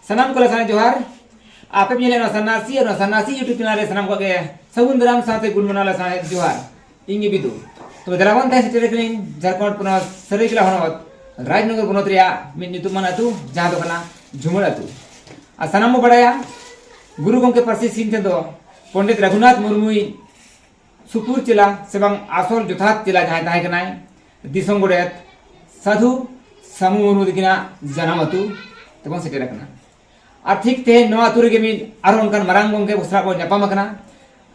ᱥᱟᱱᱟᱢ ᱠᱚᱞᱮ ᱥᱟᱱᱟ ᱡᱚᱦᱟᱨ ᱟᱯᱮ ᱯᱮ ᱧᱮᱞᱮᱫ ᱱᱚᱣᱟ ᱥᱟᱱᱟᱥᱤ ᱟᱨ ᱱᱚᱣᱟ ᱥᱟᱱᱟᱥᱤ ᱭᱩᱴᱩᱵᱽ ᱪᱮᱱᱮᱞ ᱨᱮ ᱥᱟᱱᱟᱢ ᱠᱚᱜᱮ ᱥᱟᱹᱜᱩᱱ ᱫᱟᱨᱟᱢ ᱥᱟᱶᱛᱮ ᱜᱩᱰ ᱢᱚᱨᱱᱤᱝ ᱞᱮ ᱥᱟᱶᱦᱮᱫ ᱡᱚᱦᱟᱨ ᱤᱧ ᱜᱮ ᱵᱤᱫᱩ ᱛᱚᱵᱮ ᱫᱮᱞᱟ ᱵᱚᱱ ᱛᱟᱦᱮᱸ ᱥᱮᱴᱮᱨ ᱠᱟᱹᱱᱟᱹᱧ ᱡᱷᱟᱲᱠᱷᱚᱸᱰ ᱯᱚᱱᱚᱛ ᱥᱟᱹᱨᱟᱹᱭᱠᱮᱞᱟ ᱦᱚᱱᱚᱛ ᱨᱟᱡᱽᱱᱚᱜᱚᱨ ᱵᱚᱱᱚᱛ ᱨᱮᱭᱟᱜ ᱢᱤᱫ ᱧᱩᱛᱩᱢᱟᱱ ᱟᱹᱛᱩ ᱡᱟᱦᱟᱸ ᱫᱚ ᱠᱟᱱᱟ ᱡᱷᱩᱢᱟᱹᱲ ᱟᱹᱛᱩ ᱟᱨ ᱥᱟᱱᱟᱢ ᱵᱚ ᱵᱟᱲᱟᱭᱟ ᱜᱩᱨᱩ ᱜᱚᱢᱠᱮ ᱯᱟᱹᱨᱥᱤ ᱥᱤᱢ ᱴᱷᱮᱱ ᱫᱚ ᱯᱚᱱᱰᱤᱛ ᱨᱟᱹᱜᱷᱩᱱᱟᱛᱷ ᱢᱩᱨᱢᱩᱭ ᱥᱩᱯᱩᱨ ᱪᱮᱞᱟ ᱥᱮ ᱵᱟᱝ ᱟᱥᱚᱞ ᱡᱚᱛᱷᱟᱛ ᱪᱮᱞᱟ ᱡᱟᱦᱟᱸᱭ ᱛᱟᱦᱮᱸ ᱠᱟᱱᱟᱭ ᱫᱤᱥᱚᱢ ᱜᱚᱰᱮᱛ ᱥᱟᱹᱫᱷᱩ ᱥᱟᱢᱩ ᱢᱩᱨᱢᱩ ᱛᱟᱹᱠᱤᱱᱟᱜ ᱡᱟᱱᱟᱢ ᱟᱹᱛᱩ ᱛᱮᱵᱚᱱ ᱥᱮᱴᱮᱨ ᱟᱠᱟᱱᱟ ᱟᱨ ᱴᱷᱤᱠ ᱛᱮᱦᱮᱧ ᱱᱚᱣᱟ ᱟᱛᱳ ᱨᱮᱜᱮ ᱢᱤᱫ ᱟᱨᱚ ᱚᱱᱠᱟᱱ ᱢᱟᱨᱟᱝ ᱜᱚᱢᱠᱮ ᱠᱚ ᱥᱟᱞᱟᱜ ᱵᱚᱱ ᱧᱟᱯᱟᱢ ᱟᱠᱟᱱᱟ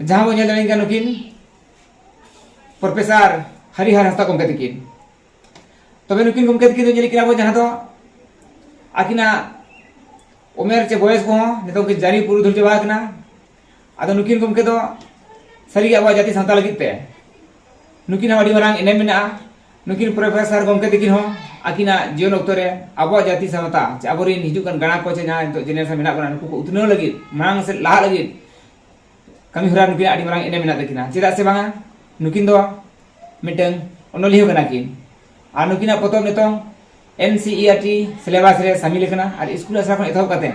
ᱡᱟᱦᱟᱸ ᱵᱚᱱ ᱧᱮᱞ ᱫᱟᱲᱮᱭᱟᱜ ᱠᱟᱱᱟ ᱱᱩᱠᱤᱱ ᱯᱨᱚᱯᱷᱮᱥᱟᱨ ᱦᱟᱨᱤᱦᱟᱨ ᱦᱟᱸᱥᱫᱟ ᱜᱚᱢᱠᱮ ᱛᱟᱹᱠᱤᱱ ᱛᱚᱵᱮ ᱱᱩᱠᱤᱱ ᱜᱚᱢᱠᱮ ᱛᱟᱹᱠᱤᱱ ᱫᱚ ᱧᱮᱞ ᱠᱮᱫᱟ ᱵᱚᱱ ᱡᱟᱦᱟᱸ ᱫᱚ ᱟᱹᱠᱤᱱᱟᱜ ᱩᱢᱮᱨ ᱪᱮ ᱵᱚᱭᱮᱥ ᱠᱚᱦᱚᱸ ᱱᱤᱛᱚᱜ ᱠᱤᱱ ᱡᱟᱹᱨᱤ ᱯᱩᱨᱩᱫᱷᱩᱞ ᱪᱟᱵᱟ ᱟᱠᱟᱱᱟ ᱟᱫᱚ ᱱᱩᱠᱤᱱ ᱜᱚᱢᱠᱮ ᱫᱚ ᱥᱟᱹᱨᱤᱜᱮ ᱟᱵᱚᱣᱟᱜ ᱡᱟᱹᱛᱤ ᱥᱟᱶᱛᱟ ᱞᱟᱹᱜᱤᱫ ᱛᱮ ᱱᱩᱠᱤᱱ ᱦᱚᱸ ᱟᱹᱰᱤ ᱢᱟᱨᱟᱝ ᱮᱱᱮᱢ ᱢᱮᱱᱟᱜᱼᱟ ᱱᱩᱠᱤᱱ ᱯᱨᱚᱯᱷᱮᱥᱚᱨ ᱜᱚᱢᱠᱮ ᱛᱟᱹᱠᱤᱱ ᱦᱚᱸ ᱟᱹᱠᱤᱱᱟᱜ ᱡᱤᱭᱚᱱ ᱚᱠᱛᱚ ᱨᱮ ᱟᱵᱚᱣᱟᱜ ᱡᱟᱹᱛᱤ ᱥᱟᱶᱛᱟ ᱪᱮ ᱟᱵᱚᱨᱮᱱ ᱦᱤᱡᱩᱜ ᱠᱟᱱ ᱜᱟᱬᱟ ᱠᱚ ᱪᱮ ᱡᱟᱦᱟᱸ ᱱᱤᱛᱚᱜ ᱡᱮᱱᱮᱨᱮᱥᱚᱱ ᱢᱮᱱᱟᱜ ᱵᱚᱱᱟ ᱱᱩᱠᱩ ᱠᱚ ᱩᱛᱱᱟᱹᱣ ᱞᱟᱹᱜᱤᱫ ᱢᱟᱲᱟᱝ ᱥᱮᱫ ᱞᱟᱦᱟᱜ ᱞᱟᱹᱜᱤᱫ ᱠᱟᱹᱢᱤ ᱦᱚᱨᱟ ᱱᱩᱠᱤᱱ ᱟᱹᱰᱤ ᱢᱟᱨᱟᱝ ᱮᱱᱮᱢ ᱢᱮᱱᱟᱜ ᱛᱟᱹᱠᱤᱱᱟ ᱪᱮᱫᱟᱜ ᱥᱮ ᱵᱟᱝᱟ ᱱᱩᱠᱤᱱ ᱫᱚ ᱢᱤᱫᱴᱟᱝ ᱚᱱᱚᱞᱤᱭᱟᱹ ᱠᱟᱱᱟ ᱠᱤᱱ ᱟᱨ ᱱᱩᱠᱤᱱᱟᱜ ᱯᱚᱛᱚᱵ ᱱᱤᱛᱚᱝ N C E R T syllabus ᱨᱮ ᱥᱟᱹᱢᱤᱞ ᱟᱠᱟᱱᱟ ᱟᱨ ᱥᱠᱩᱞ ᱟᱥᱲᱟ ᱠᱷᱚᱱ ᱮᱛᱚᱦᱚᱵ ᱠᱟᱛᱮᱫ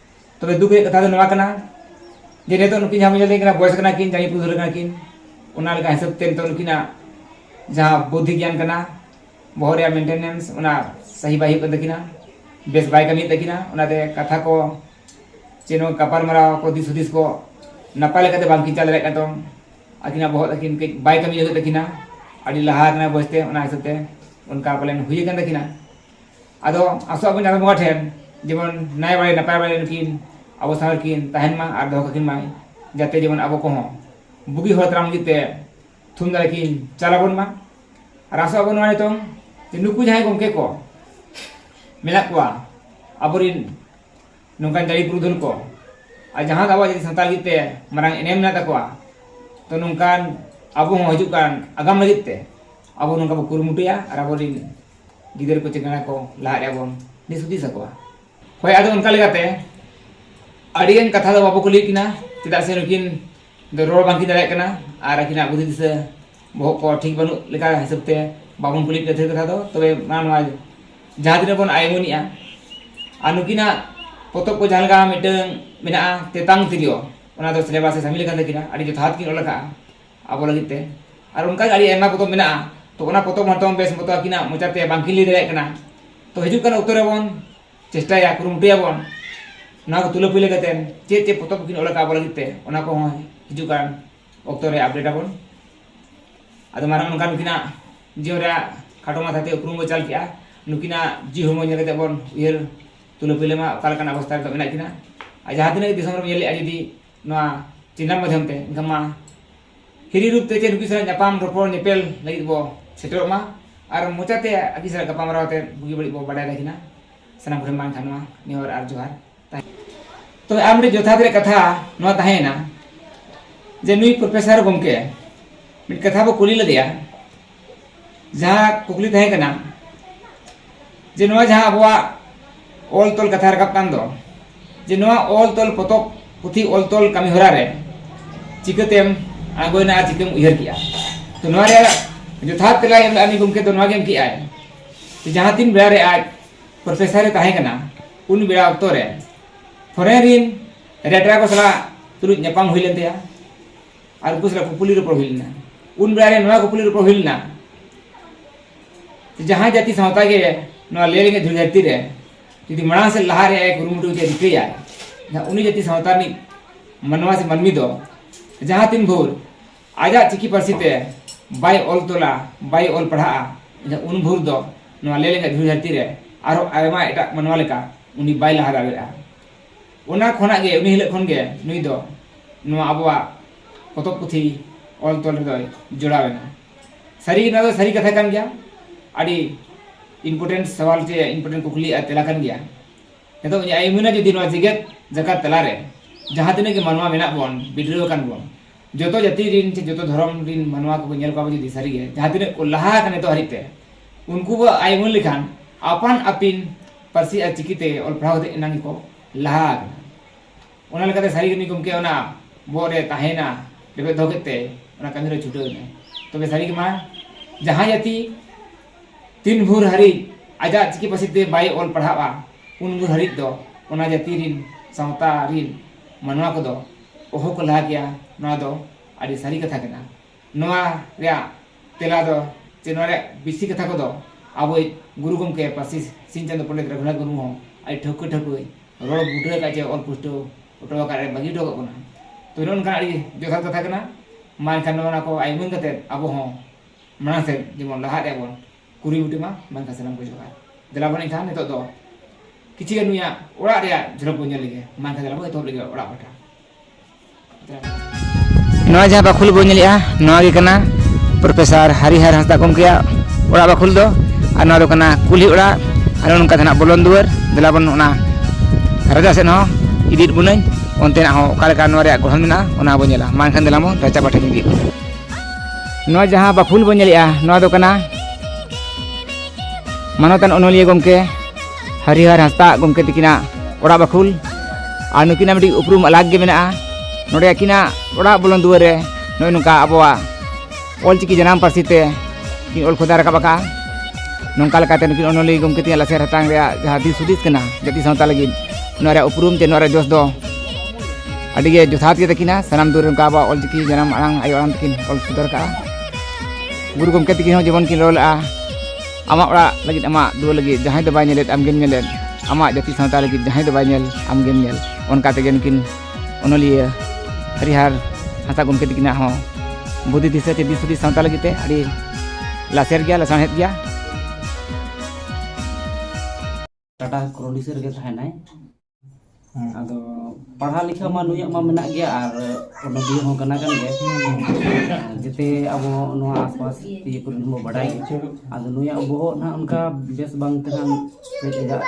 ᱛᱚᱵᱮ ᱫᱩᱠ ᱨᱮᱭᱟᱜ ᱠᱟᱛᱷᱟ ᱫᱚ ᱱᱚᱣᱟ ᱠᱟᱱᱟ ᱡᱮ ᱱᱤᱛᱚᱜ ᱱᱩᱠᱤᱱ ᱡᱟᱦᱟᱸ ᱵᱚᱱ ᱧᱮᱞᱮ ᱠᱟᱱᱟ ᱵᱚᱭᱮᱥ ᱠᱟᱱᱟ ᱠᱤᱱ ᱡᱟᱸᱜᱮ ᱯᱩᱫᱷᱩᱨ ᱠᱟᱱᱟ ᱠᱤᱱ ᱚᱱᱟ ᱞᱮᱠᱟ ᱦᱤᱥᱟᱹᱵ ᱛᱮ ᱱᱤᱛᱚᱜ ᱱᱩᱠᱤᱱᱟᱜ ᱡᱟᱦᱟᱸ ᱵᱩᱫᱷᱤ ᱜᱮᱭᱟᱱ ᱠᱟᱱᱟ ᱵᱚᱦᱚᱜ ᱨᱮᱭᱟᱜ ᱢᱮᱱᱴᱮᱱᱮᱱᱥ ᱚᱱᱟ ᱥᱟᱹᱦᱤ ᱵᱟᱭ ᱦᱩᱭᱩᱜ ᱠᱟᱱ ᱛᱟᱹᱠᱤᱱᱟ ᱵᱮᱥ ᱵᱟᱭ ᱠᱟᱹᱢᱤᱭᱮᱫ ᱛᱟᱹᱠᱤᱱᱟ ᱚᱱᱟᱛᱮ ᱠᱟᱛᱷᱟ ᱠᱚ ᱪᱮ ᱱᱚᱣᱟ ᱜᱟᱯᱟᱞᱢᱟᱨᱟᱣ ᱠᱚ ᱫᱤᱥ ᱦᱩᱫᱤᱥ ᱠᱚ ᱱᱟᱯᱟᱭ ᱞᱮᱠᱟᱛᱮ ᱵᱟᱝᱠᱤᱱ ᱪᱟᱞᱟᱣ ᱫᱟᱲᱮᱭᱟᱜ ᱠᱟᱱ ᱛᱟᱵᱚᱱ ᱟᱹᱠᱤᱱᱟᱜ ᱵᱚᱦᱚᱜ ᱛᱟᱹᱠᱤᱱ ᱠᱟᱹᱡ ᱵᱟᱭ ᱠᱟᱹᱢᱤ ᱞᱟᱹᱜᱤᱫ ᱛᱟᱹᱠᱤᱱᱟ ᱟᱹᱰᱤ ᱞᱟᱦᱟ ᱟᱠᱟᱱᱟ ᱵᱚᱭᱮᱥ ᱛᱮ ᱚᱱᱟ ᱦᱤᱥᱟᱹᱵ ᱛᱮ ᱚᱱᱠᱟ ᱯᱟᱞᱮᱱ ᱦᱩᱭ ᱟᱠᱟᱱ ᱛᱟᱹᱠᱤᱱᱟ ᱟᱫᱚ ᱟᱥᱚᱜ ᱟᱵᱚᱱ ᱪᱟᱸᱫᱚ ᱵᱚᱸᱜᱟ ᱴᱷᱮᱱ ᱡᱮᱢᱚᱱ ᱱᱟᱭ ᱵᱟᱲᱮ ᱱᱟᱯᱟᱭ ᱵᱟᱲᱮ ᱱᱩᱠᱤᱱ ᱟᱵᱚ ᱥᱟᱶ ᱨᱮᱠᱤᱱ ᱛᱟᱦᱮᱱ ᱢᱟ ᱟᱨ ᱫᱚᱦᱚ ᱠᱟᱹᱠᱤᱱ ᱢᱟᱭ ᱡᱟᱛᱮ ᱡᱮᱢᱚᱱ ᱟᱵᱚ ᱠᱚᱦᱚᱸ ᱵᱩᱜᱤ ᱦᱚᱨ ᱛᱟᱲᱟᱢ ᱞᱟᱹᱜᱤᱫ ᱛᱮ ᱛᱷᱩᱢ ᱫᱟᱲᱮ ᱠᱤᱱ ᱪᱟᱞ ᱟᱵᱚᱱ ᱢᱟ ᱟᱨ ᱟᱥᱚᱜ ᱟᱵᱚᱱ ᱱᱚᱣᱟ ᱱᱤᱛᱚᱝ ᱡᱮ ᱱᱩᱠᱩ ᱡᱟᱦᱟᱸᱭ ᱜᱚᱢᱠᱮ ᱠᱚ ᱢᱮᱱᱟᱜ ᱠᱚᱣᱟ ᱟᱵᱚᱨᱤᱱ ᱱᱚᱝᱠᱟᱱ ᱫᱟᱲᱮ ᱯᱩᱨᱩᱫᱷᱩᱞ ᱠᱚ ᱟᱨ ᱡᱟᱦᱟᱸ ᱫᱚ ᱟᱵᱚᱣᱟᱜ ᱡᱟᱹᱛᱤ ᱥᱟᱱᱛᱟᱲ ᱞᱟᱹᱜᱤᱫ ᱛᱮ ᱢᱟᱨᱟᱝ ᱮᱱᱮᱢ ᱢᱮᱱᱟᱜ ᱛᱟᱠᱚᱣᱟ ᱛᱚ ᱱᱚᱝᱠᱟᱱ ᱟᱵᱚ ᱦᱚᱸ ᱦᱤᱡᱩᱜ ᱠᱟᱱ ᱟᱜᱟᱢ ᱞᱟᱹᱜᱤᱫ ᱛᱮ ᱟᱵᱚ ᱱᱚᱝᱠᱟ ᱵᱚ ᱠᱩᱨᱩᱢᱩᱴᱩᱭᱟ ᱟᱨ ᱟᱵᱚᱨᱤᱱ ᱜᱤᱫᱟᱹᱨ ᱠᱚ ᱪᱮ ᱜᱟᱬᱟ ᱠᱚ ᱞᱟᱦᱟᱜ ᱨᱮᱭᱟᱜ ᱵᱚᱱ ᱫᱤᱥ ᱦᱩᱫᱤᱥ ᱟᱠᱚᱣᱟ ᱦᱳᱭ ᱟᱫᱚ ᱚᱱᱠᱟ ᱞᱮᱠᱟᱛᱮ ᱟᱹᱰᱤ ᱜᱟᱱ ᱠᱟᱛᱷᱟ ᱫᱚ ᱵᱟᱵᱚ ᱠᱩᱞᱤᱭᱮᱫ ᱠᱤᱱᱟ ᱪᱮᱫᱟᱜ ᱥᱮ ᱱᱩᱠᱤᱱ ᱫᱚ ᱨᱚᱲ ᱵᱟᱝ ᱠᱤᱱ ᱫᱟᱲᱮᱭᱟᱜ ᱠᱟᱱᱟ ᱟᱨ ᱟᱹᱠᱤᱱᱟᱜ ᱵᱩᱫᱷᱤ ᱫᱤᱥᱟᱹ ᱵᱚᱦᱚᱜ ᱠᱚ ᱴᱷᱤᱠ ᱵᱟᱹᱱᱩᱜ ᱞᱮᱠᱟ ᱦᱤᱥᱟᱹᱵ ᱛᱮ ᱵᱟᱵᱚᱱ ᱠᱩᱞᱤᱭᱮᱫ ᱠᱤᱱᱟ ᱰᱷᱮᱨ ᱠᱟᱛᱷᱟ ᱫᱚ ᱛᱚᱵᱮ ᱢᱟ ᱱᱚᱣᱟ ᱡᱟᱦᱟᱸ ᱛᱤᱱᱟᱹᱜ ᱵᱚᱱ ᱟᱭᱼᱩᱢᱟᱹᱱᱮᱜᱼᱟ ᱟᱨ ᱱᱩᱠᱤᱱᱟᱜ ᱯᱚᱛᱚᱵ ᱠᱚ ᱡᱟᱦᱟᱸ ᱞᱮᱠᱟ ᱢᱤᱫᱴᱟᱹᱝ ᱢᱮᱱᱟᱜᱼᱟ ᱛᱮᱛᱟᱝ ᱛᱤᱨᱭᱳ ᱚᱱᱟ ᱫᱚ ᱥᱤᱞᱮᱵᱟᱥ ᱨᱮ ᱥᱟᱹᱢᱤᱞ ᱟᱠᱟᱱ ᱛᱟᱹᱠᱤᱱᱟ ᱟᱹᱰᱤ ᱡᱚᱛᱷᱟᱛ ᱠᱤᱱ ᱚᱞ ᱟᱠᱟᱫᱼᱟ ᱟᱵᱚ ᱞᱟᱹᱜᱤᱫ ᱛᱮ ᱟᱨ ᱚᱱᱠᱟ ᱜᱮ ᱟᱹᱰᱤ ᱟᱭᱢᱟ ᱯᱚᱛᱚᱵ ᱢᱮᱱᱟᱜᱼᱟ ᱛᱚ ᱚᱱᱟ ᱯᱚᱛᱚᱵ ᱦᱚᱸ ᱱᱤᱛᱚᱝ ᱵᱮᱥ ᱢᱚᱛᱚ ᱟᱹᱠᱤᱱᱟᱜ ᱢᱚᱪᱟ ᱛᱮ ᱵᱟᱝ ᱠᱤᱱ ᱞᱟᱹᱭ ᱫᱟᱲᱮᱭᱟᱜ ᱠᱟᱱᱟ ᱛᱚ ᱦᱤᱡᱩᱜ ᱠᱟᱱ ᱚᱠᱛᱚ ᱨᱮᱵᱚᱱ ᱪᱮᱥᱴᱟᱭᱟ ᱠᱩᱨᱩᱢᱩᱴᱩᱭᱟ ᱵᱚᱱ ᱱᱚᱣᱟ ᱠᱚ ᱛᱩᱞᱟᱹ ᱯᱟᱹᱭᱞᱟᱹ ᱠᱟᱛᱮᱫ ᱪᱮᱫ ᱪᱮᱫ ᱯᱚᱛᱚᱵ ᱠᱚᱠᱤᱱ ᱚᱞ ᱠᱟᱜᱼᱟ ᱟᱵᱚ ᱞᱟᱹᱜᱤᱫ ᱛᱮ ᱚᱱᱟ ᱠᱚᱦᱚᱸ ᱦᱤᱡᱩᱜ ᱠᱟᱱ ᱚᱠᱛᱚ ᱨᱮ ᱟᱯᱰᱮᱴ ᱟᱵᱚᱱ ᱟᱫᱚ ᱢᱟᱨᱟᱝ ᱱᱚᱝᱠᱟ ᱱᱩᱠᱤᱱᱟᱜ ᱡᱤᱭᱚᱱ ᱨᱮᱭᱟᱜ ᱠᱷᱟᱴᱚ ᱢᱟᱪᱷᱟ ᱛᱮ ᱩᱯᱨᱩᱢ ᱵᱚᱱ ᱪᱟᱞ ᱠᱮᱜᱼᱟ ᱱᱩᱠᱤᱱᱟᱜ ᱡᱤᱣᱤ ᱦᱚᱲᱢᱚ ᱧᱮᱞ ᱠᱟᱛᱮᱫ ᱵᱚᱱ ᱩᱭᱦᱟᱹᱨ ᱛᱩᱞᱟᱹ ᱯᱟᱹᱭᱞᱟᱹ ᱢᱟ ᱚᱠᱟ ᱞᱮᱠᱟᱱ ᱚᱵᱚᱥᱛᱟ ᱨᱮ ᱱᱤᱛᱚᱜ ᱢᱮᱱᱟᱜ ᱠᱤᱱᱟ ᱟᱨ ᱡᱟᱦᱟᱸ ᱛᱤᱱᱟᱹᱜ ᱜᱮ ᱫᱤᱥᱚᱢ ᱨᱮᱢ ᱧᱮᱞᱮᱜᱼᱟ ᱡᱩᱫᱤ ᱱᱚᱣᱟ ᱪᱮᱱᱮᱞ ᱢᱟᱫᱽᱫᱷᱚᱢ ᱛᱮ ᱮᱱᱠᱷᱟᱱ ᱢᱟ ᱦᱤᱨᱤ ᱨᱩᱯ ᱛᱮ ᱪᱮ ᱱᱩᱠᱤᱱ ᱥᱟᱞᱟᱜ ᱧᱟᱯᱟᱢ ᱨᱚᱯᱚᱲ ᱧᱮᱯᱮᱞ ᱞᱟᱹᱜᱤᱫ ᱵᱚ ᱥᱮᱴᱮᱨᱚᱜ ᱢᱟ ᱟᱨ ᱢᱚᱪᱟ ᱛᱮ ᱟᱹᱠᱤᱱ ᱥᱟᱞᱟᱜ ᱜᱟᱯᱟᱞᱢᱟᱨᱟᱣ ᱛᱮ ᱵᱩᱜᱤ ᱵᱟᱹᱲᱤᱡ ᱵᱚ ᱵᱟᱰᱟᱭ ᱛᱟᱹᱠᱤᱱᱟ ᱥᱟᱱᱟᱢ ᱠᱚᱴᱷᱮᱱ ᱢᱟ ᱮᱱᱠᱷᱟᱱ ᱱᱚᱣᱟ ᱱᱮᱦᱚᱨ ᱟᱨ ᱡᱚᱦᱟᱨ ᱛᱚᱵᱮ ᱟᱨ ᱢᱤᱫᱴᱮᱱ ᱡᱚᱛᱷᱟᱛ ᱨᱮ ᱠᱟᱛᱷᱟ ᱱᱚᱣᱟ ᱛᱟᱦᱮᱸᱭᱮᱱᱟ ᱡᱮ ᱱᱩᱭ ᱯᱨᱚᱯᱷᱮᱥᱚᱨ ᱜᱚᱢᱠᱮ ᱢᱤᱫ ᱠᱟᱛᱷᱟ ᱵᱚ ᱠᱩᱞᱤ ᱞᱮᱫᱮᱭᱟ ᱡᱟᱦᱟᱸ ᱠᱩᱠᱞᱤ ᱛᱟᱦᱮᱸ ᱠᱟᱱᱟ ᱡᱮ ᱱᱚᱣᱟ ᱡᱟᱦᱟᱸ ᱟᱵᱚᱣᱟᱜ ᱚᱞ ᱛᱚᱞ ᱠᱟᱛᱷᱟ ᱨᱟᱠᱟᱵ ᱠᱟᱱ ᱫᱚ ᱡᱮ ᱱᱚᱣᱟ ᱚᱞ ᱛᱚᱞ ᱯᱚᱛᱚᱵ ᱯᱩᱛᱷᱤ ᱚᱞ ᱛᱚᱞ ᱠᱟᱹᱢᱤ ᱦᱚᱨᱟ ᱨᱮ ᱪᱤᱠᱟᱹᱛᱮᱢ ᱟᱬᱜᱚᱭᱮᱱᱟ ᱟᱨ ᱪᱤᱠᱟᱹᱢ ᱩᱭᱦᱟᱹᱨ ᱠᱮᱜᱼᱟ ᱛᱚ ᱱᱚᱣᱟ ᱨᱮᱭᱟᱜ ᱡᱚᱛᱷᱟᱛ ᱛᱮᱞᱟ ᱮᱢ ᱞᱮᱫᱼᱟ ᱱᱩᱭ ᱜᱚᱢᱠᱮ ᱫᱚ ᱱᱚᱣᱟ ᱜᱮ ᱮᱢ ᱠᱮᱜᱼᱟᱭ ᱡᱮ ᱡᱟᱦᱟᱸ ᱛᱤᱱ ᱵᱮᱲᱟ ᱨᱮ ᱟᱡ ᱯᱨᱚᱯᱷᱮᱥᱟᱨ ᱮ ᱛᱟᱦᱮᱸ ᱠᱟᱱᱟ ᱩᱱ ᱵᱮᱲᱟ ᱚᱠᱛᱚ ᱨᱮ ᱯᱷᱚᱨᱮᱱ ᱨᱤᱱ ᱨᱮᱴᱨᱟ ᱠᱚ ᱥᱟᱞᱟᱜ ᱛᱩᱞᱩᱡ ᱧᱟᱯᱟᱢ ᱦᱩᱭ ᱞᱮᱱ ᱛᱟᱭᱟ ᱟᱨ ᱩᱱᱠᱩ ᱥᱟᱞᱟᱜ ᱠᱩᱯᱩᱞᱤ ᱨᱚᱯᱚᱲ ᱦᱩᱭ ᱞᱮᱱᱟ ᱩᱱ ᱵᱮᱲᱟ ᱨᱮ ᱱᱚᱣᱟ ᱠᱩᱯᱩᱞᱤ ᱨᱚᱯᱚᱲ ᱦᱩᱭ ᱞᱮᱱᱟ ᱡᱟᱦᱟᱸ ᱡᱟᱹᱛᱤ ᱥᱟᱶᱛᱟ ᱜᱮ ᱱᱚᱣᱟ ᱞᱮ ᱨᱮᱸᱜᱮᱡ ᱫᱷᱩᱲᱤ ᱫᱷᱟᱹᱨᱛᱤ ᱨᱮ ᱡᱩᱫᱤ ᱢᱟᱲᱟᱝ ᱥᱮᱫ ᱞᱟᱦᱟ ᱨᱮ ᱠᱩᱨᱩᱢᱩᱴᱩ ᱪᱮᱫ ᱨᱤᱠᱟᱹᱭᱟ ᱩᱱᱤ ᱡᱟᱹᱛᱤ ᱥᱟᱶᱛᱟ ᱨᱤᱱᱤᱡ ᱢᱟᱱᱣᱟ ᱥᱮ ᱢᱟᱹᱱᱢᱤ ᱫᱚ ᱡᱟᱦᱟᱸ ᱛᱤᱱ ᱵᱷᱳᱨ ᱟᱡᱟᱜ ᱪᱤᱠᱤ ᱯᱟᱹᱨᱥᱤ ᱛᱮ ᱵᱟᱭ ᱚᱞ ᱛᱚᱞᱟ ᱵᱟᱭ ᱚᱞ ᱯᱟᱲᱦᱟᱜᱼᱟ ᱮᱱᱠᱷᱟᱱ ᱩᱱ ᱵᱷᱳᱨ ᱫᱚ ᱱᱚᱣᱟ ᱞᱮ ᱨᱮᱸᱜᱮᱡ ᱫᱷᱩᱲᱤ ᱫᱷᱟᱹᱨᱛᱤ ᱨᱮ ᱟᱨᱦᱚᱸ ᱟᱭᱢᱟ ᱮᱴᱟᱜ ᱢᱟᱱᱣᱟ ᱞᱮᱠᱟ ᱩᱱᱤ ᱵᱟᱭ ᱞᱟᱦᱟ ᱫᱟᱲᱮᱭᱟᱜᱼᱟ ᱚᱱᱟ ᱠᱷᱚᱱᱟᱜ ᱜᱮ ᱩᱱᱤ ᱦᱤᱞᱳᱜ ᱠᱷᱚᱱ ᱜᱮ ᱱᱩᱭ ᱫᱚ ᱱᱚᱣᱟ ᱟᱵᱚᱣᱟᱜ ᱯᱚᱛᱚᱵ ᱯᱩᱛᱷᱤ ᱚᱞ ᱛᱚᱞ ᱨᱮᱫᱚᱭ ᱡᱚᱲᱟᱣ ᱮᱱᱟ ᱥᱟᱹᱨᱤ ᱜᱮ ᱱᱚᱣᱟ ᱫᱚ ᱥᱟᱹᱨᱤ ᱠᱟᱛᱷᱟ ᱠᱟᱱ ᱜᱮᱭᱟ ᱟᱹᱰᱤ ᱤᱱᱯᱳᱨᱴᱮᱱᱴ ᱥᱟᱣᱟᱞ ᱪᱮ ᱤᱱᱯᱳᱨᱴᱮᱱᱴ ᱠᱩᱠᱞᱤ ᱟᱨ ᱛᱮᱞᱟ ᱠᱟᱱ ᱜᱮᱭᱟ ᱱᱤᱛᱚᱜ ᱤᱧᱟᱹᱜ ᱟᱭ ᱩᱢᱟᱹᱱᱟ ᱡᱩᱫᱤ ᱱᱚᱣᱟ ᱡᱮᱜᱮᱛ ᱡᱟᱠᱟᱛ ᱛᱟᱞᱟ ᱨᱮ ᱡᱟᱦᱟᱸ ᱛᱤᱱᱟᱹᱜ ᱜᱮ ᱢᱟᱱᱣᱟ ᱢᱮᱱᱟᱜ ᱵᱚᱱ ᱵᱤᱰᱨᱟᱹᱣ ᱟᱠᱟᱱ ᱵᱚᱱ ᱡᱚᱛᱚ ᱡᱟᱹᱛᱤ ᱨᱤᱱ ᱪᱮ ᱡᱚᱛᱚ ᱫᱷᱚᱨᱚᱢ ᱨᱤᱱ ᱢᱟᱱᱣᱟ ᱠᱚᱵᱚ ᱧᱮᱞ ᱠᱚᱣᱟ ᱵᱚ ᱡᱩᱫᱤ ᱥᱟᱹᱨᱤ ᱜᱮ ᱡᱟᱦᱟᱸ ᱛᱤᱱᱟᱹᱜ ᱠᱚ ᱞᱟᱦᱟ ᱟᱠᱟᱱᱟ ᱱᱤᱛᱚᱜ ᱦᱟᱹᱨᱤᱡ ᱛᱮ ᱩᱱᱠᱩ ᱵᱚ ᱟᱭ ᱩᱢᱟᱹᱱ ᱞᱮᱠᱷᱟᱱ ᱟᱯᱟᱱ ᱟᱹᱯᱤᱱ ᱯᱟᱹᱨᱥᱤ ᱟᱨ ᱪᱤᱠᱤ ᱛᱮ ᱚᱞ ᱯᱟᱲᱦᱟᱣ ᱠᱟᱛᱮ ᱮᱱᱟᱝ ᱜᱮᱠᱚ ᱞᱟᱦᱟ ᱟᱠᱟᱱᱟ ᱚᱱᱟ ᱞᱮᱠᱟᱛᱮ ᱥᱟᱹᱨᱤ ᱜᱮ ᱱᱩᱭ ᱜᱚᱢᱠᱮ ᱚᱱᱟ ᱵᱚᱦᱚᱜ ᱨᱮ ᱛᱟᱦᱮᱸᱭᱮᱱᱟ ᱞᱮᱵᱮᱫ ᱫᱚᱦᱚ ᱠᱮᱫ ᱛᱮ ᱚᱱᱟ ᱠᱟᱹᱢᱤ ᱨᱮ ᱪᱷᱩᱴᱟᱹᱣ ᱮᱱᱟᱭ ᱛᱚᱵᱮ ᱥᱟᱹᱨᱤ ᱜᱮ ᱢᱟ ᱡᱟᱦᱟᱸ ᱡᱟᱹᱛᱤ ᱛᱤᱱ ᱵᱷᱳᱨ ᱦᱟᱹᱨᱤᱡ ᱟᱡᱟᱜ ᱪᱤᱠᱤ ᱯᱟᱹᱨᱥᱤ ᱛᱮ ᱵᱟᱭ ᱚᱞ ᱯᱟᱲᱦᱟᱜᱼᱟ ᱩᱱ ᱵᱷᱳᱨ ᱦᱟᱹᱨᱤᱡ ᱫᱚ ᱚᱱᱟ ᱡᱟᱹᱛᱤ ᱨᱤᱱ ᱥᱟᱶᱛᱟ ᱨᱤᱱ ᱢᱟᱱᱣᱟ ᱠᱚᱫᱚ ᱚᱦᱚ ᱠᱚ ᱞᱟᱦᱟ ᱠᱮᱭᱟ ᱱᱚᱣᱟ ᱫᱚ ᱟᱹᱰᱤ ᱥᱟᱹᱨᱤ ᱠᱟᱛᱷᱟ ᱠᱟᱱᱟ ᱱᱚᱣᱟ ᱨᱮᱭᱟᱜ ᱛᱮᱞᱟ ᱫᱚ ᱪᱮ ᱱᱚᱣᱟ ᱨᱮᱭᱟᱜ ᱵᱤᱥᱤ ᱠᱟᱛᱷᱟ ᱠᱚᱫᱚ ᱟᱵᱚᱭᱤᱡ ᱜᱩᱨᱩ ᱜᱚᱢᱠᱮ ᱯᱟᱹᱨᱥᱤ ᱥᱤᱧ ᱪᱟᱸᱫᱚ ᱯᱚᱸᱰᱤᱛ ᱨᱚᱜᱷᱩᱱᱟᱛᱷ ᱢᱩᱨᱢᱩ ᱦᱚᱸ ᱟᱹᱰᱤ ᱴᱷᱟᱹᱣᱠᱟᱹ ᱴᱷᱟᱹᱣᱠᱟᱹᱭ ᱨᱚᱲ ᱵᱩᱴᱟᱹ ᱟᱠᱟᱫ ᱪᱮ ᱚᱞ ᱯᱩᱥᱴᱟᱹᱣ ᱚᱴᱚ ᱟᱠᱟᱫ ᱨᱮ ᱵᱟᱹᱜᱤ ᱚᱴᱚ ᱟᱠᱟᱫ ᱵᱚᱱᱟ ᱛᱚ ᱱᱚᱜᱼᱚ ᱱᱚᱝᱠᱟᱱᱟᱜ ᱟᱹᱰᱤ ᱡᱚᱛᱷᱟᱛ ᱠᱟᱛᱷᱟ ᱠᱟᱱᱟ ᱢᱟ ᱮᱱᱠᱷᱟᱱ ᱱᱚᱜᱼᱚ ᱱᱚᱣᱟ ᱠᱚ ᱟᱭ ᱩᱢᱟᱹᱱ ᱠᱟᱛᱮ ᱟᱵᱚ ᱦᱚᱸ ᱢᱟᱲᱟᱝ ᱥᱮᱫ ᱡᱮᱢᱚᱱ ᱞᱟᱦᱟᱜ ᱨᱮᱭᱟᱜ ᱵᱚᱱ ᱠᱩᱨᱩᱢᱩᱴᱩᱭ ᱢᱟ ᱢᱟ ᱮᱱᱠᱷᱟᱱ ᱥᱟᱱᱟᱢ ᱠᱚ ᱡᱚᱦᱟᱨ ᱫᱮᱞᱟ ᱵᱚᱱ ᱮᱱᱠᱷᱟᱱ ᱱᱤᱛᱚᱜ ᱫᱚ ᱠᱤᱪᱷᱩ ᱜᱟᱱ ᱱᱩᱭᱟᱜ ᱚᱲᱟᱜ ᱨᱮᱭᱟᱜ ᱡᱷᱚᱞᱚᱠ ᱵᱚᱱ ᱧᱮᱞ ᱞᱮᱜᱮ ᱢᱟ ᱮᱱᱠᱷᱟᱱ ᱫᱮᱞᱟ ᱵᱚᱱ ᱮᱛᱚᱦᱚᱵ ᱞᱮᱜᱮ ᱚᱲᱟᱜ ᱯᱟᱴᱟ ᱱᱚᱣᱟ ᱡᱟᱦᱟᱸ ᱵᱟᱠᱷᱩᱞ ᱵᱚᱱ ᱧᱮᱞᱮᱜᱼᱟ ᱱᱚᱣᱟ ᱜᱮ ᱠᱟᱱᱟ ᱯᱨᱚᱯᱷᱮᱥᱟᱨ ᱦᱟᱨᱤᱦᱟᱨ ᱦᱟᱸᱥᱫᱟ ᱜᱚᱢᱠᱮᱭᱟᱜ ᱚᱲᱟᱜ ᱵᱟᱠᱷᱩᱞ ᱫᱚ ᱟᱨ ᱱᱚᱣᱟ ᱫᱚ ᱠᱟᱱᱟ ᱠᱩᱞᱦᱤ ᱚᱲᱟᱜ ᱟᱨ ᱱᱚᱝᱠᱟ ᱛᱟᱦᱮᱱᱟ ᱵᱚᱞᱚᱱ ᱫᱩᱣᱟᱹᱨ ᱫᱮᱞᱟ ᱵᱚᱱ ᱚᱱᱟ ᱨᱟᱡᱟ ᱥᱮᱫ ᱦᱚᱸ ᱤᱫᱤᱭᱮᱫ ᱵᱚᱱᱟᱹᱧ ᱚᱱᱛᱮᱱᱟᱜ ᱦᱚᱸ ᱚᱠᱟ ᱞᱮᱠᱟ ᱱᱚᱣᱟ ᱨᱮᱭᱟᱜ ᱜᱚᱲᱦᱚᱱ ᱢᱮᱱᱟᱜᱼᱟ ᱚᱱᱟ ᱵᱚᱱ ᱧᱮᱞᱟ ᱢᱟ ᱮᱱᱠᱷᱟᱱ ᱫᱮᱞᱟ ᱵᱚᱱ ᱨᱟᱡᱟ ᱯᱟᱴᱷᱮ ᱤᱫᱤᱭᱮᱫ ᱵᱚᱱᱟ ᱱᱚᱣᱟ ᱡᱟᱦᱟᱸ ᱵᱟᱠᱷᱩᱞ ᱵᱚᱱ ᱧᱮᱞᱮᱜᱼᱟ ᱱᱚᱣᱟ ᱫᱚ ᱠᱟᱱᱟ ᱢᱟᱱᱚᱛᱟᱱ ᱚᱱᱚᱞᱤᱭᱟᱹ ᱜᱚᱢᱠᱮ ᱦᱟᱨᱤᱦᱟᱨ ᱦᱟᱸᱥᱫᱟ ᱜᱚᱢᱠᱮ ᱛᱟᱹᱠᱤᱱᱟᱜ ᱚᱲᱟᱜ ᱵᱟᱠᱷᱩᱞ ᱟᱨ ᱱᱩᱠᱤᱱᱟᱜ ᱢᱤᱫᱴᱤᱡ ᱩᱯᱨᱩᱢ ᱟᱞᱟᱜᱽ ᱜᱮ ᱢᱮᱱᱟᱜᱼᱟ ᱱᱚᱰᱮ ᱟᱹᱠᱤᱱᱟᱜ ᱚᱲᱟᱜ ᱵᱚᱞᱚᱱ ᱫᱩᱣᱟᱹᱨ ᱨᱮ ᱱᱚᱜᱼᱚᱭ ᱱᱚᱝᱠᱟ ᱟᱵᱚᱣᱟᱜ ᱚᱞᱪᱤᱠᱤ ᱡᱟᱱᱟᱢ ᱯᱟᱹᱨᱥᱤ ᱛᱮ ᱠᱤᱱ ᱚᱞ ᱠᱷᱚᱫᱟ ᱨᱟᱠᱟᱵ ᱟᱠᱟᱫᱼᱟ ᱱᱚᱝᱠᱟ ᱞᱮᱠᱟᱛᱮ ᱱᱩᱠᱤᱱ ᱚᱱᱚᱞᱤᱭᱟᱹ ᱜᱚᱢᱠᱮ ᱛᱤᱧᱟᱹᱜ ᱞᱟᱥᱮᱨ ᱦᱟᱛᱟᱝ ᱨᱮᱭᱟᱜ ᱡᱟᱦᱟᱸ ᱫᱤᱥ ᱦᱩᱫᱤᱥ ᱠᱟᱱᱟ ᱡᱟᱹᱛᱤ ᱥᱟᱶᱛᱟ ᱞᱟᱹᱜᱤᱫ ᱱᱚᱣᱟ ᱨᱮᱭᱟᱜ ᱩᱯᱨᱩᱢ ᱛᱮ ᱱᱚᱣᱟ ᱨᱮᱭᱟᱜ ᱡᱚᱥ ᱫᱚ ᱟᱹᱰᱤ ᱜᱮ ᱡᱚᱛᱷᱟᱛ ᱜᱮ ᱛᱟᱹᱠᱤᱱᱟ ᱥᱟᱱᱟᱢ ᱫᱩᱣᱟᱹᱨ ᱱᱚᱝᱠᱟ ᱟᱵᱚᱣᱟᱜ ᱚᱞᱪᱤᱠᱤ ᱡᱟᱱᱟᱢ ᱟᱲᱟᱝ ᱟᱭᱳ ᱟᱲᱟᱝ ᱛᱮᱠᱤᱱ ᱚᱞ ᱥᱚᱫᱚᱨ ᱠᱟᱜᱼᱟ ᱜᱩᱨᱩ ᱜᱚᱢᱠᱮ ᱛᱟᱹᱠᱤᱱ ᱦᱚᱸ ᱡᱮᱢᱚᱱ ᱠᱤᱱ ᱨᱚᱲ ᱞᱮᱜᱼᱟ ᱟᱢᱟᱜ ᱚᱲᱟᱜ ᱞᱟᱹᱜᱤᱫ ᱟᱢᱟᱜ ᱫᱩᱣᱟᱹᱨ ᱞᱟᱹᱜᱤᱫ ᱡᱟᱦᱟᱸᱭ ᱫᱚ ᱵᱟᱭ ᱧᱮᱞᱮᱫ ᱟᱢᱜᱮᱢ ᱧᱮᱞᱮᱫ ᱟᱢᱟᱜ ᱡᱟᱹᱛᱤ ᱥᱟᱶᱛᱟ ᱞᱟᱹᱜᱤᱫ ᱡᱟᱦᱟᱸᱭ ᱫᱚ ᱵᱟᱭ ᱧᱮᱞ ᱟᱢᱜᱮᱢ ᱧᱮᱞ ᱚᱱᱠᱟ ᱛᱮᱜᱮ ᱱᱩᱠᱤᱱ ᱚᱱᱚᱞᱤᱭᱟᱹ ᱦᱟᱨᱤᱦᱟᱨ ᱦᱟᱸᱥᱫᱟ ᱜᱚᱢᱠᱮ ᱛᱟᱹᱠᱤᱱᱟᱜ ᱦᱚᱸ ᱵᱩᱫᱷᱤ ᱫᱤᱥᱟᱹ ᱪᱮ ᱫᱤᱥ ᱦᱩᱫᱤᱥ ᱥᱟᱶᱛᱟ ᱞᱟᱹᱜᱤᱫ ᱛᱮ ᱟᱹᱰᱤ ᱞᱟᱥᱮᱨ ᱜᱮᱭᱟ ᱞᱟᱥᱟᱬᱦᱮᱫ ᱜᱮᱭᱟ ᱴᱟᱴᱟ ᱠᱨᱚᱰᱤᱥᱮ ᱨᱮᱜᱮ ᱛᱟᱦᱮᱱᱟᱭ ᱟᱫᱚ ᱯᱟᱲᱦᱟᱣ ᱞᱮᱠᱷᱟ ᱢᱟ ᱱᱩᱭᱟᱜ ᱢᱟ ᱢᱮᱱᱟᱜ ᱜᱮᱭᱟ ᱟᱨ ᱚᱱᱚᱞᱤᱭᱟᱹ ᱦᱚᱸ ᱠᱟᱱᱟ ᱠᱟᱱ ᱜᱮᱭᱟ ᱡᱮᱛᱮ ᱟᱵᱚ ᱱᱚᱣᱟ ᱟᱥᱯᱟᱥ ᱤᱭᱟᱹ ᱠᱚᱨᱮᱱ ᱦᱚᱸᱵᱚ ᱵᱟᱰᱟᱭ ᱜᱮᱭᱟ ᱟᱫᱚ ᱱᱩᱭᱟᱜ ᱵᱚᱦᱚᱜ ᱱᱟᱦᱟᱜ ᱚᱱᱠᱟ ᱵᱮᱥ ᱵᱟᱝ ᱛᱟᱦᱮᱱ ᱟᱡᱟᱜ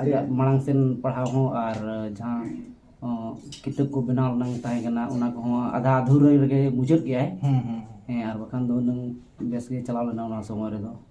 ᱟᱡᱟᱜ ᱢᱟᱲᱟᱝ ᱥᱮᱱ ᱯᱟᱲᱦᱟᱣ ᱦᱚᱸ ᱟᱨ ᱡᱟᱦᱟᱸ ᱠᱤᱛᱟᱹᱵ ᱠᱚ ᱵᱮᱱᱟᱣ ᱨᱮᱱᱟᱝ ᱛᱟᱦᱮᱸ ᱠᱟᱱᱟ ᱚᱱᱟ ᱠᱚᱦᱚᱸ ᱟᱫᱷᱟ ᱟᱫᱷᱩᱨᱟᱹ ᱨᱮᱜᱮ ᱢᱩᱪᱟᱹᱫ ᱠᱮᱜᱼᱟᱭ ᱦᱮᱸ ᱟᱨ ᱵᱟᱠᱷᱟᱱ ᱫᱚ ᱦᱩᱱᱟᱹᱝ ᱵᱮᱥ ᱜᱮ ᱪᱟᱞᱟᱣ ᱞᱮᱱᱟ ᱚᱱᱟ ᱥᱚᱢᱚᱭ ᱨᱮᱫᱚ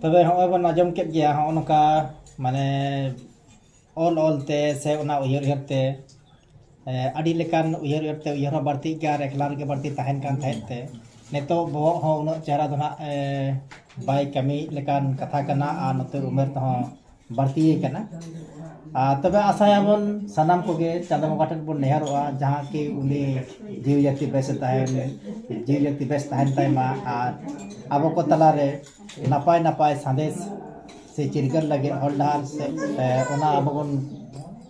ᱛᱚᱵᱮ ᱦᱚᱸᱜᱼᱚᱭ ᱵᱚᱱ ᱟᱸᱡᱚᱢ ᱠᱮᱫ ᱜᱮᱭᱟ ᱦᱚᱸᱜᱼᱚ ᱱᱚᱝᱠᱟ ᱢᱟᱱᱮ ᱚᱞ ᱚᱞ ᱛᱮ ᱥᱮ ᱚᱱᱟ ᱩᱭᱦᱟᱹᱨ ᱩᱭᱦᱟᱹᱨ ᱛᱮ ᱟᱹᱰᱤ ᱞᱮᱠᱟᱱ ᱩᱭᱦᱟᱹᱨ ᱩᱭᱦᱟᱹᱨ ᱛᱮ ᱩᱭᱦᱟᱹᱨ ᱦᱚᱸ ᱵᱟᱹᱲᱛᱤᱜ ᱜᱮᱭᱟ ᱟᱨ ᱮᱠᱞᱟ ᱨᱮᱜᱮ ᱵᱟᱹᱲᱛᱤ ᱛᱟᱦᱮᱱ ᱠᱟᱱ ᱛᱟᱦᱮᱸᱫ ᱛᱮ ᱱᱤᱛᱚᱜ ᱵᱚᱦᱚᱜ ᱦᱚᱸ ᱩᱱᱟᱹᱜ ᱪᱮᱦᱨᱟ ᱫᱚ ᱱᱟᱜ ᱵᱟᱭ ᱠᱟᱹᱢᱤᱭᱮᱫ ᱞᱮᱠᱟᱱ ᱠᱟᱛᱷᱟ ᱠᱟᱱᱟ ᱟᱨ ᱱᱚᱛᱮ ᱩᱢᱮᱨ ᱛᱮᱦᱚᱸ ᱵᱟᱹᱲᱛᱤ ᱟᱠᱟᱱᱟ ᱟᱨ ᱛᱚᱵᱮ ᱟᱥᱟᱭᱟᱵᱚᱱ ᱥᱟᱱᱟᱢ ᱠᱚᱜᱮ ᱪᱟᱸᱫᱚ ᱵᱚᱸᱜᱟ ᱴᱷᱮᱱ ᱵᱚᱱ ᱱᱮᱦᱚᱨᱚᱜᱼᱟ ᱡᱟᱦᱟᱸ ᱠᱤ ᱩᱱᱤ ᱡᱤᱣᱤ ᱡᱟᱹᱛᱤ ᱵᱮᱥᱮ ᱛᱟᱦᱮᱱ ᱡᱤᱣᱤ ᱡᱟᱹᱛᱤ ᱵᱮᱥ ᱛᱟᱦᱮᱱ ᱛᱟᱭ ᱢᱟ ᱟᱨ ᱟᱵᱚ ᱠᱚ ᱛᱟᱞᱟᱨᱮ ᱱᱟᱯᱟᱭ ᱱᱟᱯᱟᱭ ᱥᱟᱸᱫᱮᱥ ᱥᱮ ᱪᱤᱨᱜᱟᱹᱞ ᱞᱟᱹᱜᱤᱫ ᱦᱚᱨ ᱰᱟᱦᱟᱨ ᱥᱮ ᱚᱱᱟ ᱟᱵᱚ ᱵᱚᱱ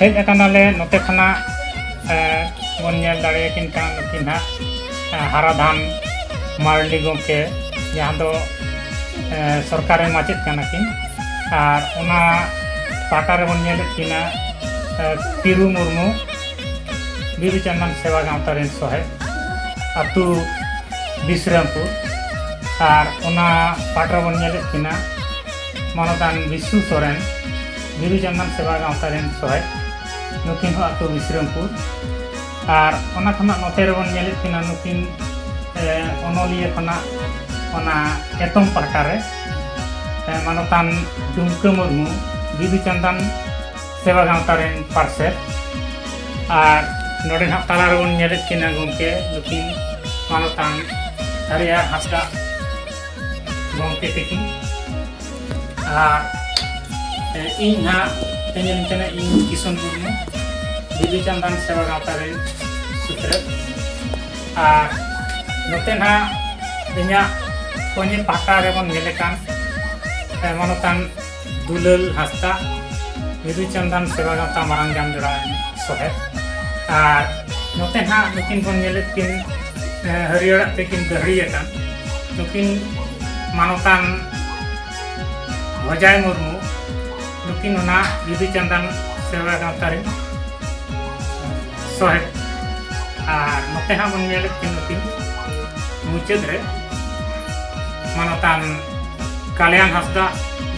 ᱦᱮᱡ ᱟᱠᱟᱱᱟᱞᱮ ᱱᱚᱛᱮ ᱠᱷᱚᱱᱟᱜ ᱵᱚᱱ ᱧᱮᱞ ᱫᱟᱲᱮᱭᱟᱠᱤᱱ ᱠᱟᱱᱟ ᱱᱩᱠᱤᱱ ᱦᱟᱸᱜ ᱦᱟᱨᱟᱫᱷᱟᱱ ᱢᱟᱨᱰᱤ ᱜᱚᱢᱠᱮ ᱡᱟᱦᱟᱸ ᱫᱚ ᱥᱚᱨᱠᱟᱨᱤ ᱢᱟᱪᱮᱫ ᱠᱟᱱᱟ ᱠᱤᱱ ᱟᱨ ᱚᱱᱟ ᱯᱟᱦᱴᱟ ᱨᱮᱵᱚᱱ ᱧᱮᱞᱮᱫ ᱠᱤᱱᱟ ᱛᱤᱨᱩ ᱢᱩᱨᱢᱩ ᱵᱤᱫᱩ ᱪᱟᱸᱫᱟᱱ ᱥᱮᱵᱟ ᱜᱟᱶᱛᱟ ᱨᱮᱱ ᱥᱚᱦᱮᱫ ᱟᱛᱳ ᱵᱤᱥᱨᱟᱢᱯᱩᱨ ᱟᱨ ᱚᱱᱟ ᱯᱟᱦᱴᱟ ᱨᱮᱵᱚᱱ ᱧᱮᱞᱮᱫ ᱠᱤᱱᱟ ᱢᱟᱱᱚᱛᱟᱱ ᱵᱤᱥᱩ ᱥᱚᱨᱮᱱ ᱵᱤᱨᱩ ᱡᱟᱝᱜᱟᱱ ᱥᱮᱵᱟ ᱜᱟᱶᱛᱟ ᱨᱮᱱ ᱥᱚᱦᱮᱫ ᱱᱩᱠᱤᱱ ᱦᱚᱸ ᱟᱛᱳ ᱵᱤᱥᱨᱟᱢᱯᱩᱨ ᱟᱨ ᱚᱱᱟ ᱠᱷᱚᱱᱟᱜ ᱱᱚᱛᱮ ᱨᱮᱵᱚᱱ ᱧᱮᱞᱮᱫ ᱠᱤᱱᱟ ᱱᱩᱠᱤᱱ ᱚᱱᱚᱞᱤᱭᱟᱹ ᱠᱷᱚᱱᱟᱜ ᱚᱱᱟ ᱮᱛᱚᱢ ᱯᱟᱦᱴᱟ ᱨᱮ ᱢᱟᱱᱚᱛᱟᱱ ᱰᱩᱢᱠᱟᱹ ᱢᱩᱨᱢᱩ ᱵᱤᱫᱩ ᱪᱟᱸᱫᱟᱱ ᱥᱮᱵᱟ ᱜᱟᱶᱛᱟ ᱨᱮᱱ ᱯᱟᱨᱥᱮᱛ ᱟᱨ ᱱᱚᱰᱮ ᱱᱟᱦᱟᱜ ᱛᱟᱞᱟ ᱨᱮᱵᱚᱱ ᱧᱮᱞᱮᱫ ᱠᱤᱱᱟ ᱜᱚᱢᱠᱮ ᱱᱩᱠᱤᱱ ᱢᱟᱱᱚᱛᱟᱱ ᱦᱟᱹᱨᱭᱟᱹᱲ ᱦᱟᱸᱥᱫᱟ ᱜᱚᱢᱠᱮ ᱛᱤᱠᱤᱱ ᱟᱨ ᱤᱧ ᱦᱟᱸᱜ ᱛᱮᱦᱮᱧ ᱞᱤᱧ ᱠᱟᱱᱟ ᱤᱧ ᱠᱤᱥᱩᱱ ᱢᱩᱨᱢᱩ ᱵᱤᱫᱩ ᱪᱟᱸᱫᱟᱱ ᱥᱮᱵᱟ ᱜᱟᱶᱛᱟ ᱨᱮ ᱥᱩᱛᱨᱮᱫ ᱟᱨ ᱱᱚᱛᱮ ᱦᱟᱸᱜ ᱤᱧᱟᱹᱜ ᱠᱚᱧᱮ ᱯᱟᱦᱴᱟ ᱨᱮᱵᱚᱱ ᱧᱮᱞᱮ ᱠᱟᱱ ᱢᱟᱱᱚᱛᱟᱱ ᱫᱩᱞᱟᱹᱞ ᱦᱟᱸᱥᱫᱟ ᱵᱤᱫᱩ ᱪᱟᱸᱫᱟᱱ ᱥᱮᱵᱟ ᱜᱟᱶᱛᱟ ᱢᱟᱨᱟᱝ ᱡᱟᱢ ᱡᱚᱲᱟ ᱥᱚᱦᱮᱫ ᱟᱨ ᱱᱚᱛᱮ ᱱᱟᱦᱟᱜ ᱱᱩᱠᱤᱱ ᱵᱚᱱ ᱧᱮᱞᱮᱫ ᱠᱤᱱ ᱦᱟᱹᱨᱭᱟᱹᱲᱟᱜ ᱛᱮᱠᱤᱱ ᱫᱟᱹᱦᱲᱤ ᱟᱠᱟᱱ ᱱᱩᱠᱤᱱ ᱢᱟᱱᱚᱛᱟᱱ ᱵᱷᱚᱡᱟᱭ ᱢᱩᱨᱢᱩ ᱱᱩᱠᱤᱱ ᱚᱱᱟ ᱵᱤᱫᱩ ᱪᱟᱸᱫᱟᱱ ᱥᱮᱵᱟ ᱜᱟᱶᱛᱟ ᱨᱮᱱ ᱥᱚᱦᱮᱫ ᱟᱨ ᱱᱚᱛᱮ ᱦᱟᱸᱜ ᱵᱚᱱ ᱧᱮᱞᱮᱫ ᱠᱤᱱ ᱱᱩᱠᱤᱱ ᱢᱩᱪᱟᱹᱫ ᱨᱮ ᱢᱟᱱᱚᱛᱟᱱ ᱠᱟᱞᱭᱟᱱ ᱦᱟᱸᱥᱫᱟ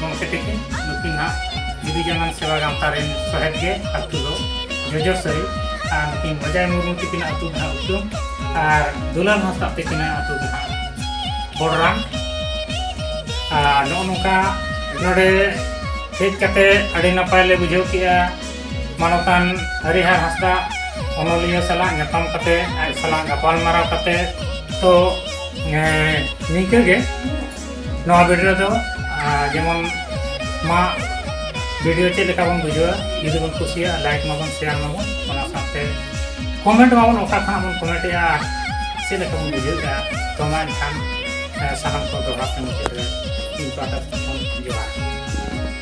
ᱜᱚᱢᱠᱮ ᱛᱟᱹᱠᱤᱱ ᱱᱩᱠᱤᱱ ᱦᱟᱸᱜ ᱡᱩᱫᱤ ᱡᱟᱱᱟᱢ ᱥᱮᱵᱟ ᱜᱟᱶᱛᱟ ᱨᱮᱱ ᱥᱚᱦᱮᱫ ᱜᱮ ᱟᱛᱳ ᱫᱚ ᱡᱚᱡᱚ ᱥᱟᱹᱨᱤ ᱟᱨ ᱱᱩᱠᱤᱱ ᱵᱟᱡᱟᱭ ᱢᱩᱨᱢᱩ ᱛᱟᱹᱠᱤᱱ ᱟᱛᱳ ᱫᱚ ᱦᱟᱸᱜ ᱩᱛᱩᱢ ᱟᱨ ᱫᱩᱞᱟᱞ ᱦᱟᱸᱥᱫᱟ ᱛᱟᱹᱠᱤᱱ ᱟᱛᱳ ᱫᱚ ᱦᱟᱸᱜ ᱵᱚᱲᱨᱟᱢ ᱟᱨ ᱱᱚᱜᱼᱚ ᱱᱚᱝᱠᱟ ᱱᱚᱰᱮ ᱦᱮᱡ ᱠᱟᱛᱮ ᱟᱹᱰᱤ ᱱᱟᱯᱟᱭ ᱞᱮ ᱵᱩᱡᱷᱟᱹᱣ ᱠᱮᱜᱼᱟ ᱢᱟᱱᱚᱛᱟᱱ ᱦᱟᱹᱨᱤᱦᱟᱨ ᱦᱟᱸᱥᱫᱟ ᱚᱱᱚᱞᱤᱭᱟᱹ ᱥᱟᱞᱟᱜ ᱧᱟᱯᱟᱢ ᱠᱟᱛᱮ ᱟᱡ ᱥᱟᱞᱟᱜ ᱜᱟᱯᱟᱞᱢᱟᱨᱟᱣ ᱠᱟᱛᱮ ᱛᱚ ᱱᱤᱝᱠᱟᱹ ᱜᱮ ᱱᱚᱣᱟ ᱵᱷᱤᱰᱤᱭᱳ ᱨᱮᱫᱚ ᱡᱮᱢᱚᱱ ᱢᱟ ᱵᱷᱤᱰᱤᱭᱳ ᱪᱮᱫ ᱞᱮᱠᱟ ᱵᱚᱱ ᱵᱩᱡᱷᱟᱹᱣᱟ ᱡᱩᱫᱤ ᱵᱚᱱ ᱠᱩᱥᱤᱭᱟᱜᱼᱟ ᱞᱟᱭᱤᱠ ᱢᱟᱵᱚᱱ ᱥᱮᱭᱟᱨ ᱢᱟᱵᱚᱱ ᱚᱱᱟ ᱥᱟᱶᱛᱮ ᱠᱚᱢᱮᱱᱴ ᱢᱟᱵᱚᱱ ᱚᱠᱟ ᱠᱷᱚᱱᱟᱜ ᱵᱚᱱ ᱠᱚᱢᱮᱱᱴᱮᱜᱼᱟ ᱟᱨ ᱪᱮᱫ ᱞᱮᱠᱟ ᱵᱚᱱ ᱵᱩᱡᱷᱟᱹᱣᱮᱜᱼᱟ ᱛᱚ ᱢᱟ ᱮᱱᱠᱷᱟᱱ ᱥᱟᱱᱟᱢ ᱠᱚ ᱫᱚᱦᱲᱟ ᱛᱮ ᱢᱩᱪᱟᱹᱫ ᱨᱮ ᱤᱧ ᱯᱟᱦᱴᱟ ᱥᱮᱫ ᱠᱷᱚᱱ ᱡᱚᱦᱟᱨ